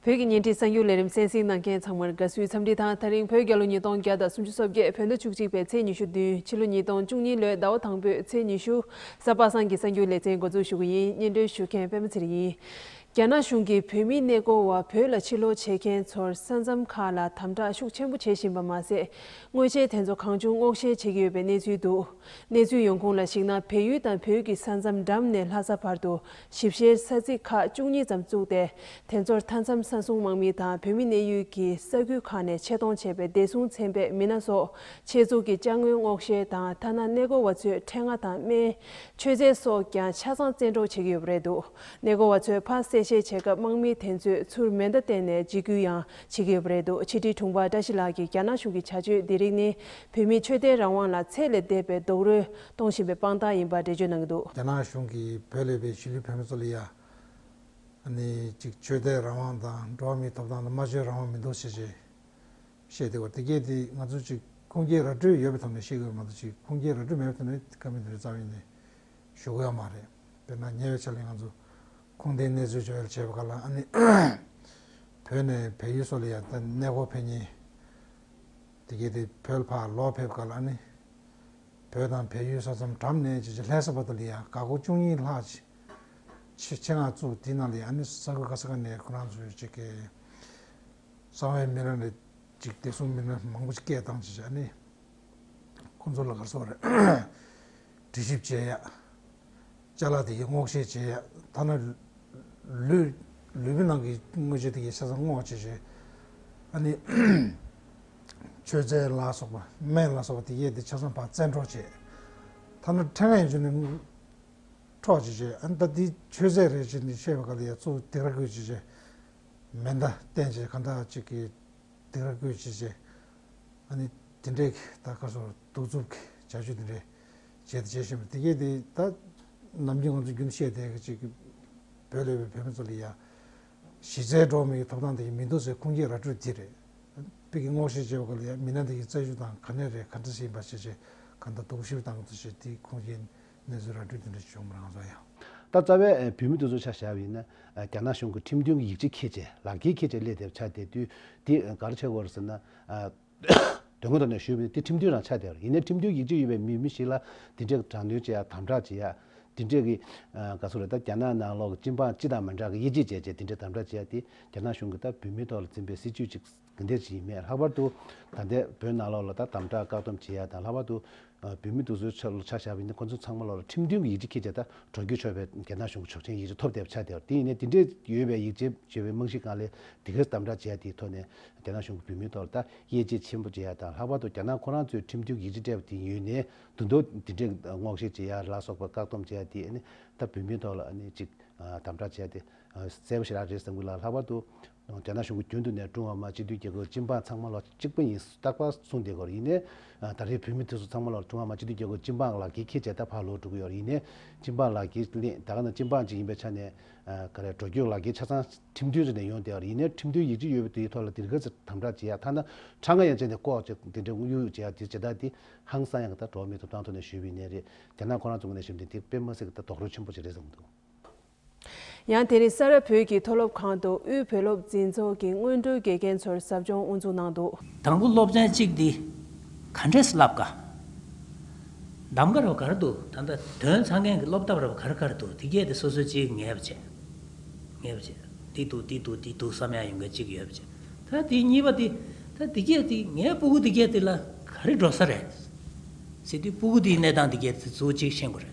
བོད་ཀྱི་ཉེ་འཁྲིས་གསར་འགྱུར་ལས་རིམ་གསན་གཟིགས་གནང་མཁན་ཚང་མར་དགའ་བསུའི་འཚམས་འདྲི་དང་ད་རིང་བོད་རྒྱལ་ལོ་ཉིས་སྟོང་བརྒྱ་དང་སུམ་ཅུ་སོ་བརྒྱད་བོད་ཟླ་བཅུ་གཅིག་པའི་ཚེས་ཉི་ཤུ་བདུན་ཕྱི་ལོ་ཉིས་སྟོང་བཅུ་གཉིས་ལོའི་ཟླ་བ་དང་པོའི་ཚེས་ཉི་ཤུ་གཟའ་པ་སངས་ཀྱི་གསར་འགྱུར་ལེ་ཚན་འགོ་འཛུགས་ཞུ་གི་ཡིན་སྙན་སྒྲོན་ཞུ་མཁན་པད་མ་ཚེ་རིང་ཡིན། རྒྱ་ནག་གཞུང་གིས་བོད་མི་གནས་སྐོར་བ་བོད་ལ་ཕྱིར་ལོག་བྱེད་མཁན་ཚོར་ས་མཚམས་ཁག་ལ་དམ་དྲག་ཤུགས་ཆེན་པོ་བྱེད་བཞིན་པ་མ་ཟད་དངོས་ཆས་དེ་ཚོ་གང་བྱུང་སྔོག་བཤེར་བྱེད་ཀྱི་ཡོད་པའི་གནས་ཚུལ་འདུག་གནས་ཚུལ་ཡོང་ཁུངས་ལ་གཞིགས་ན་བལ་ཡུལ་དང་བོད་ཀྱི་ས་མཚམས་འགྲམ་ནས་ལྷ་ས་བར་དུ་ཞིབ་བཤེར་ས་ཚིགས་ཁག་བཅུ་གཉིས་ཙམ་བཙུགས་ཏེ་དེ་ཚོར་མཐའ་མཚམས་ས་སྲུང་དམག་མི་དང་བོད་མི་གནས་ཡུལ་གྱི་ས་ཁུལ་ཁག་ནས་ཆེད་གཏོང་བྱས་པའི་བདེ་སྲུང་ཚན་པས་མི་སྣ་སོགས་ཆེད་འཛུགས་ཀྱིས་དཔྱ་དངུལ་སྔོག་བཤེར་དང་ཐ་ན་གནས་སྐོར་བ་ཚོས་འཕྲེད་ལྔ་དང་སྨན། མཆོད་རྫས་སོགས་ཀྱང་ཆ་ཚང་བཙན་འཕྲོག་བྱེད་ཀྱི་ཡོད་པ་རེད་འདུག་ནད་འགོ་བ་ཚོའི་ཕ་གསལ་བཤད་བྱེད་སྐབས་དམག་མི་དེ་ཚོས་ཚུར་མེ་མདའ་བསྟན་ནས་འཇིགས་སྐུལ་ཡང་བྱེད་ཀྱི་ཡོད་པ་རེད་འདུག་ཕྱི་དྲིལ་དྲུང་འཕར་བཀྲ་ཤིས་ལགས་ཀྱིས་རྒྱ་ནག་གཞུང་གི་བྱ་སྤྱོད་འདི་རིགས་ནི་བོད་མིའི་ཆོས་དད་རང་དབང་ལ་ཚད་ལས་འདས་པའི་རྡོག་རོལ་གཏོང་བཞིན་པའི་དཔང་རྟགས་ཡིན་པར་འགྲེལ་བརྗོད་གནང་གི་འདུག། རྒྱ་ནག་གཞུང་གིས་བོད་ལས་པའི་གཞིས་ལུས་བོད་མི་ཚོ་ལ་ཡ་ནི་གཅིག་ཆོས་དད་རང་དབང་དང་འགྲོ་བ་མིའི་ཐོབ་ཐང་དང་སྨྲ་བརྗོད་རང་དབང་མི་འདུག་ཞེས་བཤད་བཤད་དེ་བ་དེ་སྐད་དེ་ང་ཚོ་གཅིག་ཁུངས་སྐྱེལ་ར་སྤྲོད་ཡོད་པའི་ཐོག་ནས་བཤད་དགོས་པ་མ་གཏོགས་གཅིག་ཁུངས་སྐྱེལ་ར་སྤྲོད་མེད་པའི་ཐོག་ནས་དེ་ཀ་མི་འདུག་རྩ་བའི་ནས་ཞུགས་ཡོད་མ་རེད། དཔེར་ན་ཉེ་བའི་ཆ་ལས་ང་ཚོ་ཁུངས་ལྡན་གནས་ཚུལ་བྱུང་ཡོད་ཅེས་པ་ཁག་ལ་ཨ་ནི། བོད་ནས་བལ་ཡུལ་སོགས་ལ་ཡང་ད་གནས་སྐོར་ཕེབས་ཉེན། དེ་གལ་ཏེ་བོད་ཕར་ལོག་ཕེབས་ཁག་ལ་ཨ་ནི། བོད་དང་བལ་ཡུལ་ས་མཚམས་གྲམ་ནས་ཇི་ཆེ་ལྷའི་ས་བར་དུ་ལ་ཡང་འགག་སྒོ་བཅུ་གཉིས་ལྷག་ཆེ་ཆེ་ངང་བཙུགས་དེའི་ནང་ལ་ཡང་ཨ་ནི་ས་ཁུལ་ཁ་ས་ཁ་ནས་ཁོ་རང་ཚོའི་ཆེ་གེ་གསང་བའི་སྨན་ར་ལས་གཅིག་བདེ་སྲུང་སྨན་ར་མང་པོ་ཆེ་གེ་བཏང་ཅེས་ཨ་ནི། ཁོང་ཚོ་ལ་གར་སོང་རེད། གྲོས་ཞིབ་བྱེད་ཡ། བཅའ་ལག་དེ་གའི་སྔོག་བཤེར་བྱེད་ཡ། ཐ་ན། ལུས། ལུས་པོའི་ནང་གི་དངོས་ཆ་དེ་གའི་ཆ་ཚང་སྔོག་བྱེད་བྱེད། ཨ་ནི། མཆོད་རྫས་ལ་སོགས་པ། སྨན་ལ་སོགས་པ་དེ་གའི་དེ་ཆ་ཚང་བག་བཙན་འཕྲོག་བྱེད། ཐ་ན་ཕྲེང་བའི་མཇུག་ནས། འཕྲོག་བྱེད་བྱེད། ཨ་ད་དེ་མཆོད་རྫས་རེད་ཅེས་ནི་བཤད་པའི་སྐབས་ལ་ཡ་ཚུགས་སྡིག་ར་བསྐུལ་བྱེད་བྱེད། མེ་མདའ་བསྟན་བྱེད་ག་འདྲ་ཅིག་གིས་སྡིག་ར་བསྐུལ་བྱེད་བྱེད། ཨ་ནི་དེ་འདྲའི་ད་སྐབས་སུ་གདུག་རྩུབ་ཀྱི་བྱ་སྤྱོད་དེ་འདྲའི་བྱས་དང་བྱེད་བཞིན་པ་དེ་གས་དེ་ད་ནམ་རྒྱུན་ང་ཚོ་རྒྱུན་དུ་བཤད་དེ་གཅིག་བོད་ལས་བའི་བོད་མི་ཚོ་ལ་ཡང་གཞི་རྩའི་འགྲོ་བ་མིའི་ཐོབ་ཐང་དེ་ཡང་མི་འདུག་ཟེར་ཁུངས་སྐྱེལ་ར་སྤྲོད་དེ་རེད། དཔེ་གྱི་སྔོག་བཤེར་བྱས་པ་སྐོར་ལ་ཡང་མི་སྣ་དེ་གའི་རྩལ་ཤུགས་དང་ག་ནས་རེད་ག་འདྲ་ཞིག་ཡིན་པ་བྱས་རྗེས་གང་ལྟར་དོགས་གཞི་བཏང་འདུག་ཅེས་དེའི་ཁུངས་སྐྱེལ་གནས་ཚུལ་ར་སྤྲོད་དེ་འདྲ་བྱུང་མི་རང་ས་ཡང། ད་རྩ་བའི་བོད་མི་དེ་ཚོ་ཆ་བཞག་ཡིན་ན། རྒྱ་ནག་གཞུང་གི་ཁྲིམས་མཐུན་གྱི་ཡིག་ཆ་ཁྱེད་ཅེས་ལག་འཁྱེར་ཁྱེད་ཅེས་སླེ་དེར་ཆ་དེ་དུས་དེ་གར་ཆགས་གོ་ཟེར་ན། དོན་དངོས་ཐོག་ནས་ཞུས་པ་ནི་དེ་ཁྲིམས་མཐུན་རང་ཆགས་དེར་ཡིན་ནའི་ཁྲིམས་མཐུན་ཡིག་ཆ་ཡོད་པའི་མི་མི་ཞིག་ལ་དེ་འདྲའི་དྲག་གནོན་བྱེད་ཡ་དམ་དྲག་བྱེད་ཡ། དེ་འདྲའི་གི། ག་སུ་རེད་ད་རྒྱ་ནག་ནང་ལོག་གི་སྤྱི་འབངས་སྤྱི་དང་མི་འདྲ་གི་དབྱེ་འབྱེད་བྱས་བྱས་དེ་འདྲའི་དམ་དྲག་བྱེད་ཡ་དེ་རྒྱ་ནག་གཞུང་གི་ད་བོད་མི་ཐོག་ལ་འཛིན་པའི་སྲིད་ཇུས་ཅིག། དེ་འདྲས་བྱས་མེད་ལྷག་པར་དུ་ད་ལྟའི་བོད་ནང་ལོགས་ལ་ད་དམ་དྲག་བཀག་སྡོམ་བྱེད་ཡ་དང་ལྷག་པར་དུ་བོད་མི་སྡུག་བཟོའི་ཆ་བཞག་པ་ཡིན་ན་ཁོ་ཚོ་ཚང་མ་ལོགས་ལ་ཁྲིམས་མཐུན་གྱི་ཡིག་ཆ་ཁྱེད་ཅག་ད་གྲོས་བསྡུར་ཆོག་པའི་རྒྱ་ནག་གཞུང་གི་ཆོག་མཆན་ཡིག་ཆ་ཐོབ་བསྡད་པ་ཆགས་བསྡད་པ་དེ་ཡིན་ན་དེ་འདྲས་ཡོད་པའི་ཡིག་ཆའི་བརྗོད་པའི་རྨང་གཞི་གང་ལས་དེ་གར་དམ་དྲག་བྱེད་ཡ་དེའི་ཐོག་ནས་རྒྱ་ནག་གཞུང་གི་བོད་མིའི་ཐོག་ལ་ད་དབྱེ་འབྱེད་ཆེན་པོ་བྱེད་ཡ་དང་ལྷག་པར་དུ་རྒྱ་ནག་ཁོ་རང་ཚོས་ཁྲིམས་མཐུན་གྱི་ཡིག་ཆ་སྤྲད་པ་དེ་ཡོད་ནས་དུ་འདོད་དེ་འདྲས་སྔོག་བཤེར་བྱེད་ཡ་ལ་སོགས་པ་བཀག་སྡོམ་བྱེད་ཡ་དེ་ནི་ད་བོད་མིའི་ཐོག་ལ་ནི་ཅིག་དམ་དྲག་བྱེད་ཡ་དེ་གསལ་པོ་ཞིག་རག་རེད་བསམ་གི་ལ་ལྷག་པར་དུ་རྒྱ་ནག་གཞུང་གིས་རྒྱུན་དུ་ནས་ཀྲུང་ཧྭ་མི་དམངས་སྤྱི་མཐུན་རྒྱལ་ཁབ་སྤྱི་འབངས་ཚང་མ་ལ་གཅིག་པུ་ཡིན་རྟག་པར་གསུངས་བསྡད་སྐོར་ཡིན། ད་རེས་བོད་མི་དེ་ཚོ་ཚང་མ་ལ་ཀྲུང་ཧྭ་མི་དམངས་སྤྱི་མཐུན་རྒྱལ་ཁབ་སྤྱི་འབངས་ལག་འཁྱེར་ཁྱེར་བྱས་ད་བར་ལོ་དྲུག་ཡོལ་ཡིན། སྤྱི་འབངས་ལག་འཁྱེར་གླེང་ད་ག་ནང་སྤྱི་འབངས་ཅིག་ཡིན་པའི་ཆ་ནས། ག་རེ་འགྲོ་སྐྱོད་ལག་འཁྱེར་ཆ་ཚང་ཁྲིམས་མཐུན་རེ་ནས་ཡོང་བསྡད་ཡིན། ཁྲིམས་མཐུན་ཡིག་གཅིག་ཡོད་པའི་དེའི་ཐོག་ལ་དེ་འགའ་ཚོས་དམ་དྲག་བྱེད་ཡ་ཐ་ན་ཁྲག་རྔ་ཡང་བཅད་ནས་བཀོག་ཅེས་དེ་འདྲའི་དབུགས་དབྱུང་བྱེད་ཡ་དེ་བྱེད་ད་དེ་ཧང་སང་ཡ་གི་ད་གྲོགས་མེད་དུ་བཏང་ཐུག་ནས་ཞུས་པའི་གནས་རེད་རྒྱ་ནག་ཁོ་རང་ཚོ་ངོས་ནས་ཞུས་པ་འདི་དེ་དཔེ་མ་སྲིད་གི་ད་དོགས་རོལ་ཆེན་པོ་ཅིག་རེད་བསམ་འདུག། ཡང་དེ་རིང་ས་རཱ་བོད་ཀྱི་མཐོ་སློབ་ཁང་དུ་དབུས་བོད་སློབ་འཛིན་ཚོགས་ཀྱི་སྔོན་འགྲོའི་དགེ་རྒན་ཚོར་ཟབ་སྦྱོང་དབུ་འཛུགས་གནང་འདུག། དང་པོ་སློབ་ཚན་གཅིག་འདི་ག་འདྲས་སུ་བསླབ་དཀའ། གདམ་ག་རབ་གར་དུ་ད་ལྟ་དོན་ཚང་མཁན་གྱི་སློབ་གདམ་རབ་གར་གར་དུ་དེ་བརྒྱད་དེ་སོ་སོའི་གཅིག་ངེས་པ་བྱས། ངེས་པ་བྱས། འདི་འདུག་འདི་འདུག་འདི་འདུག་བསམ་ཡང་ཡོང་མཁན་གཅིག་ཡོད་པ་བྱས། ད་དེ་གཉིས་པ་དེ་ད་དེ་བརྒྱད་དེ་ངའི་སྤུ་གུ་དེ་བརྒྱད་དེ་ལ་ག་རེ་འགྲོ་ས་རེད། ཟེར་དུས་སྤུ་གུ་དེའི་གནས་སྟངས་དེ་བརྒྱད་དེ་གཙོ་བོ་གཅིག་ཤེས་དགོས་རེད།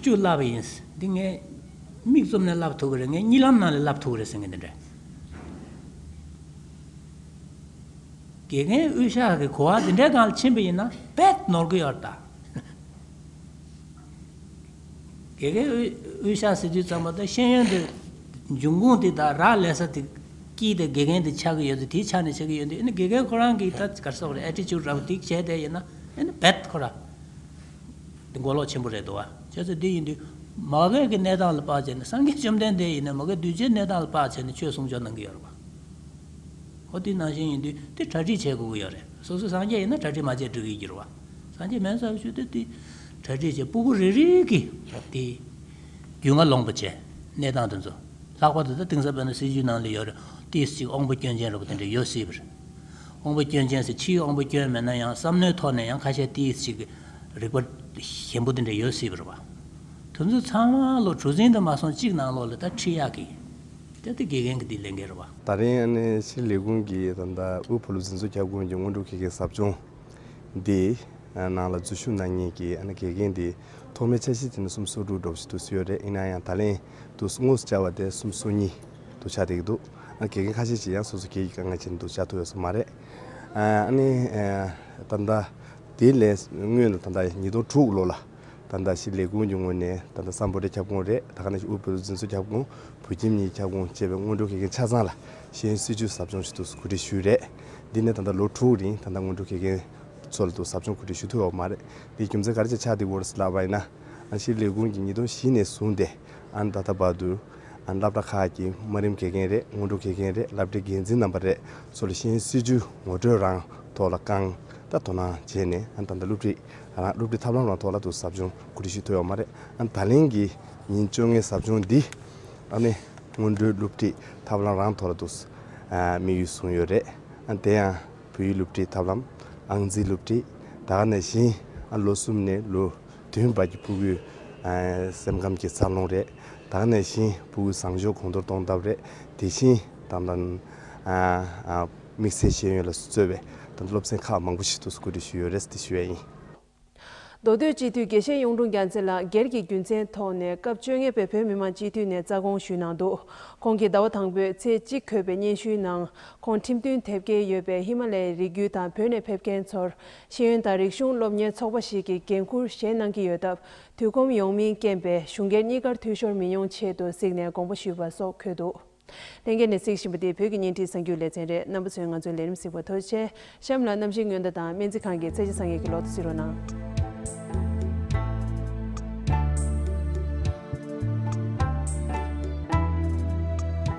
བཅུ་བསླབ་པ་ཡིན། འདི་ངས་མིག་བཙུམ་ནས་བསླབ་ཐུབ་ཀྱི་རེད། ངས་གཉིད་ལམ་ནང་ལས་བསླབ་ཐུབ་ཀྱི་རེད་ཟེར་མཁན་དེ་འདྲ། དགེ་རྒན་དབུས་ཤག་གིས་གོ་བ་འདི་འདྲའི་སྒང་ལ་ཕྱིན་པ་ཡིན་ན་བེད་ནོར་གི་ཡོད། དགེ་རྒན་དབུས་ཤག་ཟེར་དུས་ཙམ་པོ་ད་ཤེས་ཡོན་དེ་འབྱུང་ཁུངས་དེ་དག་རག་ལས་ས་དེ་ཀྱིས་དེ་དགེ་རྒན་དེ་ཆགས་ཀྱི་ཡོད་དེ་དེའི་ཆ་ནས་བྱེད་ཀྱི་ཡོད་འདི་ཨེ་ནི་དགེ་རྒན་ཁོ་རང་གིས་ད་གར་སོག་རེད Attitude ར་བ་དེ་བྱས་བསྡད་ཡིན་ན་ཨེ་ནི་བེད་ཁོ་ར། འདི་མགོ་ལོག་ཆེན་པོ་རེད་དོ་བ། བྱས་ཚེ་འདི་ཡིན་དུས། མ་རྒད་ཀྱི་གནས་སྟངས་ལ་དཔག་བྱས་ནས་སངས་རྒྱས་བཅོམ་ལྡན་འདས་ཡིན་ནའི་མ་རྒད་གདུལ་བྱའི་གནས་སྟངས་ལ་དཔག་བྱས་ནས་ཆོས་གསུང་ཆོག་གནང་གི་ཡོད་རེད་པ། ཧོ་དེ་ནང་བཞིན་ཡིན་དུས་དེ་གྲ་སྒྲིག་བྱེད་དགོས་ཀྱི་ཡོད་རེད་སོ་སོ་སངས་རྒྱས་ཡིན་ན་གྲ་སྒྲིག་མ་བྱས་འགྲིག་གི་འགྱུར་བ། སངས་རྒྱས་མེད་ས་རུ་བཅུག་དུས་དེ་གྲ་སྒྲིག་བྱེད་སྤུ་བུ་རིག་རིག་གི་དེ། རྒྱུས་མངའ་ལོངས་པོ་བྱེད་གནས་སྟངས་དེ་ཚོ། ལྷག་པར་དུ་ད་དེང་སང་བོད་ན་སྲིད་བྱུས་ནང་ལ་ཡོད་རེད། ཏིས་གཅིག་ཨོང་བུ་སྐྱོན་ཅན་རེད་པ་དེ་འདྲ་ཡོད་སྲིད་པ་རེད། དབང་པོ་སྐྱོན་ཅན་སྲིད་ཕྱིའི་དབང་པོ་སྐྱོན་མེད་ན་ཡང་བསམ་མནོའི་ཐོག་ནས་ཡང་ཁ་ཤས་ཏི་ཡིས་ཅིག་རིག་པ་ཞན་པོ་དེ་འདྲ་ཡོད་སྲིད་པར་བ། དུ་ཚོད་ཚང་མ་ལོ་དྲུག་ཟིན་དུ་མ་སོང་གཅིག་ནང་ལོག་ལ་ད་ཁྲིད་ཡག་གི། ད་ཏི་དགེ་རྒན་གི་ཏི་ལས་འགལ་ར་བ། ད་རིང་ཨ་ནེ་ཕྱིར་ལས་ཁུངས་ཀྱི་ད་ད་དབུས་བོད་ལུགས་འཛིན་བཟོ་ཁྱབ་ཁོངས་ཀྱི་སྔོན་འགྲོ་ཁེ་ཁེ་ཟབ་སྦྱོང་འདི་ནང་ལ་འཛུལ་ཞུགས་གནང་ཉེས་ཀྱི་ཨ་ནེ་དགེ་རྒན་འདི་ཐོག་མའི་འཆར་གཞི་དེ་ནི་གསུམ་སོ་དྲུག་སྒྲོག་བཞིན་དུ་བསུ་ཡོད་རེད་ཡིན་ན་ཡང་ད་ལན་དུ་སྔོ་སུ་བཅར་བ་དེ་གསུམ་སོ་གཉིས། འདུག་ཆ་དེ་གི་འདུག་དགེ་རྒན་ཁ་ཤས་ཀྱིས་ཡང་སོ་སོ་ཁྱེད་ཀྱི་དཀའ་ངལ་ཅི་འདུག་ཆ་ཐུག་ཡོད་ས་མ་རེད། ཨ་ནི། ད་ལྟ་དེའི་ལན་དངོས་ནི་ད་ལྟ་ཉིས་སྟོང་དྲུག་ལོ་ལ་ད་ལྟ་ཕྱི་ལས་ཁུངས་ཀྱི་ངོས་ནས་ད་ལྟ་སམ་བོད་རིགས་ཁྱབ་ཁོངས་རེད་ད་ག་ནས་ཤི་དབུས་བོད་རིགས་འཛིན་བཟུང་ཁྱབ་ཁོངས་བོད་ཁྱིམ་གཉིས་ཁྱབ་ཁོངས་བཅས་པའི་སྔོན་འགྲོའི་དགེ་རྒན་ཆ་ཚང་ལ་ཤེས་ཡོན་སྲིད་བྱུས་ཟབ་སྦྱོང་ཞུ་གཏུགས་སུ་གོ་སྒྲིག་ཞུས་རེད། འདི་ནི་ད་ལྟ་ལོ་དྲུག་རིང་ད་ལྟ་སྔོན་འགྲོའི་དགེ་རྒན་ཚོ་ལ་གཏུགས་ཟབ་སྦྱོང་གོ་སྒྲིག་ཞུ་ཐུབ་ཡོད་པ་མ་རེད། དེའི་རྒྱུ་མཚན་ག་རེ་བྱས་ཆ་དེ་བོར་སི་ལ་བ་ཡིན་ན། ཕྱི་ལས་ཁུངས་ཀྱིས་ཉིས་སྟོང་བཞི་ནས་བཟུང་སྟེ་ཨ་ནི་ད་ལྟ་བར་དུ། སློབ་གྲྭ་ཁག་གི་དམའ་རིམ་དགེ་རྒན་རེད་སྔོན་འགྲོ་དགེ་རྒན་རེད་སློབ་གྲྭའི་འགན་འཛིན་རྣམ་པ་རེད་སོགས་ལ་ཤན་སྲིད་ཇུས་ངོ་སྤྲོད་རང་ཐོག་ལ་བསྐང་དང་དོ་སྣང་བྱས་ནས་ད་ལྟ་སློབ་ཁྲིད་རང་སློབ་ཁྲིད་ཐབས་ལམ་རང་ཐོག་ལ་དུ་ཟབ་སྦྱོང་གོ་སྒྲིག་ཞུས་ཐུབ་ཡོད་མ་རེད། ད་ལན་གྱི་ཉིན་བཅོ་ལྔའི་ཟབ་སྦྱོང་འདི་ལ་ནི་སྔོན་འགྲོའི་སློབ་ཁྲིད་ཐབས་ལམ་རང་ཐོག་ལ་དུ་དམིགས་ཡུལ་བཟུང་ཡོད་རེད། དེ་ཡང་བོད་ཡིག་སློབ་ཁྲིད་ཐབས་ལམ་ཨང་རྩིས་སློབ་ཁྲིད་ད་ནས་བཞིན་ལོ་གསུམ་ནས་ལོ་བདུན་བར་གྱི་ཕུགས་ཡུལ་སེམས་ཁམས་ཀྱི་འཚར་ལོངས་རེད། ད་ནས་བཞིན་བུ་གུ་བཟང་སྤྱོད་གོང་མཐོར་གཏོང་ཐབས་རེ་དེ་བཞིན་དང། དམིགས་བསལ་ཤེས་ཡོན་ལ་བརྩོད་པའི་སློབ་ཚན་ཁག་མང་པོ་ཞིག་ཏུ་བཀོད་སྒྲིག་ཞུས་ཡོད་རེད་དེ་ཞུ་བས་ཡིན། མདོ་སྟོད་སྤྱི་འཐུས་དགེ་བཤེས་གཡུང་དྲུང་རྒྱ་མཚན་ལགས་སྒེར་གྱི་རྒྱུ་མཚན་ཐོག་ནས་སྐབས་བཅོ་ལྔའི་བོད་བོད་མི་མང་སྤྱི་འཐུས་ནས་རྩ་དགོངས་ཞུས་གནང་འདུག་ཁོང་གིས་ཟླ་བ་དང་པོའི་ཚེས་གཅིག་འཁོད་པའི་སྙན་ཞུའི་ནང་ཁོང་ཁྲིམས་མཐུན་དེབ་སྐྱེལ་ཡོད་པའི་ཧི་མ་ལའི་རི་རྒྱུད་དང་བོད་ནས་ཕེབས་མཁན་ཚོར་ཤེས་ཡོན་དང་རིག་གཞུང་སློབ་གཉེར་ཚོགས་པ་ཞིག་གི་འགན་འཁུར་བཞེས་གནང་གི་ཡོད་སྟབས། དུས་ཁོམ་ཡོང་མིན་རྐྱེན་པས་གཞུང་སྒེར་གཉིས་ཀར་འཐུས་ཤོར་མི་ཡོང་ཆེད་དུ་གཟིགས་ནས་དགོངས་པ་ཞུས་པ་སོགས་འཁོད་འདུག་ལྷན་རྒྱས་ནས་གཟིགས་བཞིན་པ་དེ་བོད་ཀྱི་གཉེན་སྒྲིག་གསར་འགྱུར་ལེ་ཚན་རེད་རྣམ་པ་ཚོས་ང་ཚོའི་ལས་རིམ་གཟིགས་པ་ཐོས་རྗེས་གཤམ་ལ་གནམ་གཤིས་སྔོན་བརྡ་དང་སྨན་རྩིས་ཁང་གི་ཚད་གཞི་བཟང་ངན་གྱི་ལོག་ཏུ་གཟིགས་རོགས་གནང།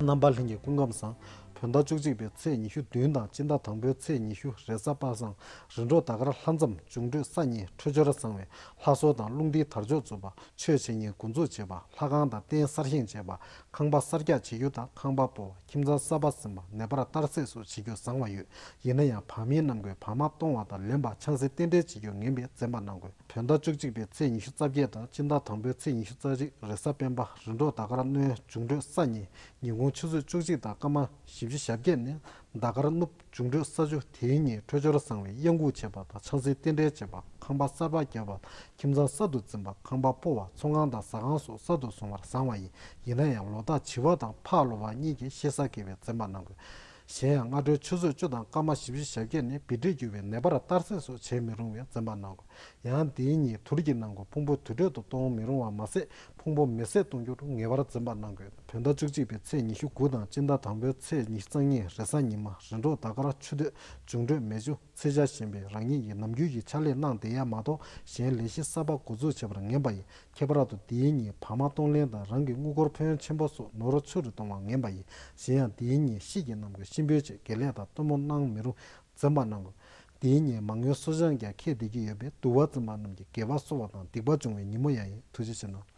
རྣམ་པར་ལྷན་གྱི་སྐུ་ཁམས་བཟང། བོད་ཟླ་བཅུ་གཅིག་པའི་ཚེས་ཉི་ཤུ་བདུན་དང་སྤྱི་ཟླ་དང་པོའི་ཚེས་ཉི་ཤུ་རེ་གཟའ་པ་སངས་རི་འབྲོག་ད་གར་ལྷ་མཚམས་འབྱུང་འཕྲོད་ས་གཉིས་འཕྲོད་སྦྱོར་བཟང་བས་ལྷ་གསོལ་དང་རླུང་རྟའི་དར་ལྕོག་འཛུགས་པ་ཆོས་བྱེད་གཉིས་འགོ་འཛུགས་བྱེད་པ་ལྷ་ཁང་དང་རྟེན་གསར་བཞེངས་བྱེད་པ་ཁང་པ་གསར་རྒྱག་བྱེད་རྒྱུ་དང་ཁང་པ་སྤོ་བ་ཁྱིམ་ཚང་གསར་པ་ཟིན་པ་ནད་པར་གཏར་སྲེགས་སོགས་བྱེད་རྒྱུ་བཟང་བ་ཡོད། ཡིན་ན་ཡང་བག་མེད་རྣམས་ཀྱིས་བག་མ་གཏོང་བ་དང་ལེན་པ་ཆང་སྲི་རྟེན་འབྲེལ་བྱེད་རྒྱུར་ངན་པའི་བཙན་པ་གནང་དགོས་བོད་ཟླ་བཅུ་གཅིག་པའི་ཚེས་ཉི་ཤུ་རྩ་བརྒྱད་དང་སྤྱི་ཟླ་དང་པོའི་ཚེས་ཉི་ཤུ་རྩ་གཅིག་རེས་གཟའ་སྤེན་པ་རི་འབྲོག་ཟླ་དཀར་སྣོད་འབྱུང་གྲོད་ས་གཉིས་ཉིན་གུང་ཆུ་ཚོད་བཅུ་གཅིག་དང་སྐར་མ་བཞི་བཅུ་ཞབས་བརྒྱད་ནི་ཟླ་དཀར་སྣོད་འབྱུང་གྲོད་ས་བཅུ་དེའི་ཉིན་འཕྲོད་སྦྱོར་བཟང་བའི་གཡང་འགུགས་བྱེད་པ་དང་ཆང་སྲི་རྟེན་འབྲེལ་བྱེད་པ་ཁང་པ་གསར་པ་བརྒྱབ་པ་ཁྱིམ་ཚང་གསར་དུ་འཛིན་པ་ཁང་པ་སྤོ་བ་ཚོང་ཁང་དང་ཟ་ཁང་སོགས་གསར་དུ་བཟུང་བར་བཟང་བ་ཡིན་ཡིན་ན་ཡང་ལོ་རྟགས་བྱི་བ་དང་ཕག་ལོ་བ་གཉིས་ཀྱིས་ཤེས་བཟའ་དགེ་བའི་བཙན་པ་གནང་དགོས། གཞན་ཡང་སྔ་དྲོའི་ཆུ་ཚོད་བཅུ་དང་སྐར་མ་བཞི་བཞི་ཞབས་བརྒྱད་ནི་བི་དྲོད་རྒྱུ་བའི་ནད་པར་གཏར་སྲེག་སོགས་བྱེད་མི་རུང་བའི་འཛེམ་བག་གནང་དགོས། ཡང་འདིའི་ཉིན་དུར་གྱི་ནང་གི་ཕུང་པོ་དུར་ཁྲོད་དུ་གཏོང་མི་རུང་བ་མ་ཟད་ཕུང་པོ་མེ་བསྲེགས་གཏོང་རྒྱུར་ངེས་པར་འཛེམ་བག་གནང་དགོས། བོད་ཟླ་བཅུ་གཅིག་པའི་ཚེས་ཉི་ཤུ་དགུ་དང་དཔྱིད་ཟླ་དང་པོའི་ཚེས་ཉི་གཙང་ཉིན་རེས་གཟའ་ཉི་མ་རེས་འགྲོགས་ཟླ་སྐར་ཆུ་སྟོད་འབྱུང་འཕྲོད་མེ་ཆུ། ཚེ་འཆར་བཞིན་པའི་རང་ཉིད་ཀྱིས་ནམ་རྒྱུན་གྱི་ཕྱག་ལས་གནང་བསྡད་ཡ་མ་གཏོགས་གཞན་ལས་གཞི་གསར་པ་འགོ་འཛུགས་བྱེད་པར་ངན་པ་ཡིན་ཁྱད་པར་དུ་འདིའི་ཉིན་བག་མ་གཏོང་ལེན་དང་རང་གི་དངུལ་སྒོར་ཕན་ཡོན་ཆེན་པོ་སོགས་ནོར་རོ་ཆུ་རུ་གཏོང་བ་ངན་པ་ཡིན་གཞན་ཡང་འདིའི་ཉིན་གཤིས་ཀྱི་རྣམ་ཀུན་གཤིན་པོའི་ཆེད་དགེ་ལས་དང་སྟོན་མོ་གནང་མི་རུང་འཛེམ་བག་གནང་དགོས། འདིའི་ཉིན་མང་ཡོན་སོ་བྱང་རྒྱ་ཁྱད་འདེད་ཀྱི་ཡོད་པས་དུ་བ་རྩི་མ་རྣམས་ཀྱི་དགེ་བ་གསོ་བ་དང་སྡིག་པ་སྦྱོང་བའི་ཉིན་མོ་ཡང་ཡིན་ཐུགས་རྗེ་ཆེ་གནང།